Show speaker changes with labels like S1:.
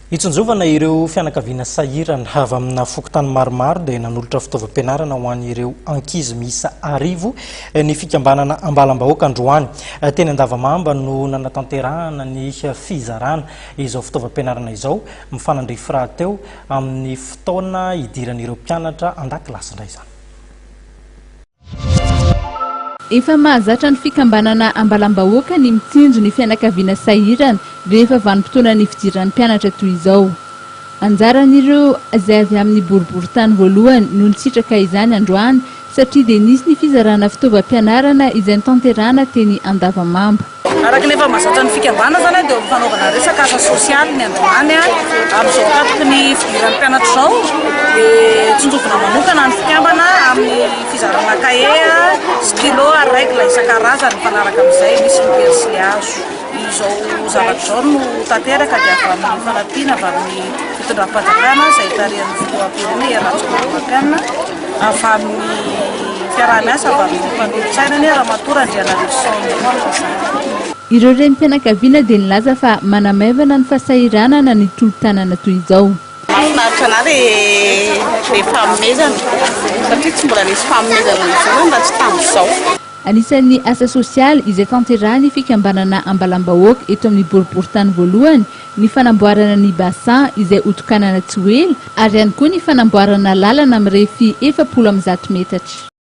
S1: Hitsinjovana ireo fianakaviana sahirana avy amina fokontany maromaro dia nanolotra fitaovam-pianarana ho an'ireo ankizy miisa arivo eh, ny fikambanana ambalam-bahoaka androany. Eh, teny Andavamamba no nanatanterahana ny fizarana izao fitaovam-pianarana izao mifanandrify rahateo amin'ny fotoana hidiran'ireo mpianatra an-dakilasy indray izany.
S2: Efa mahazatra ny fikambanana Ambalam-bahoaka ny mitsinjo ny fianakaviana sahirana rehefa vanim-potoanan'ny fidiran'ny mpianatra toy izao. Anjaran'ireo izay avy amin'ny boriborintany voalohany no nisitraka izany androany satria dia nisy ny fizarana fitaovam-pianarana izay notanterahana teny Andavamamba. Araka ny efa
S3: mahazatra ny fikambanana izany dia eo amin'ny fanaovana resaka asa sosialy ny androany. Amin'izao tapitry ny fidiran'ny mpianatra izao dia tsinjovina manokana ny fikambana amin'ny fizarana kahie, stylo ary règle isan-karazany mifanaraka amin'izay misy ny pensily hazo. Izao zavatra izao no tanteraka dia avy amin'ny fanampiana avy amin'ny fitondram-panjakana izay tarihan'ny filoham-pirenena i Rajoelina Ramatoa Marc Anne. avy amin'ny fiaraha-miasa avy amin'ny mpanolotsaina ny Ramatoa Randrianarisoa Nicolas izany. Ireo
S2: renim-pianakaviana dia nilaza fa manamaivana ny fasahiranana ny tolo-tanana toy izao. Mahafinaritra anah le
S4: le fanomezana satria tsy mbola nisy fanomezana izao zany raha tsy tamin'izao. Anisan'ny
S2: asa sosialy izay tanterahan'ny fikambanana Ambalam-bahoaka eto amin'ny boriborintany voalohany ny fanamboarana ny bassin izay hotokanana tsy ho ela ary ihany koa ny fanamboarana lalana mirefy efapolo amby zato metatra.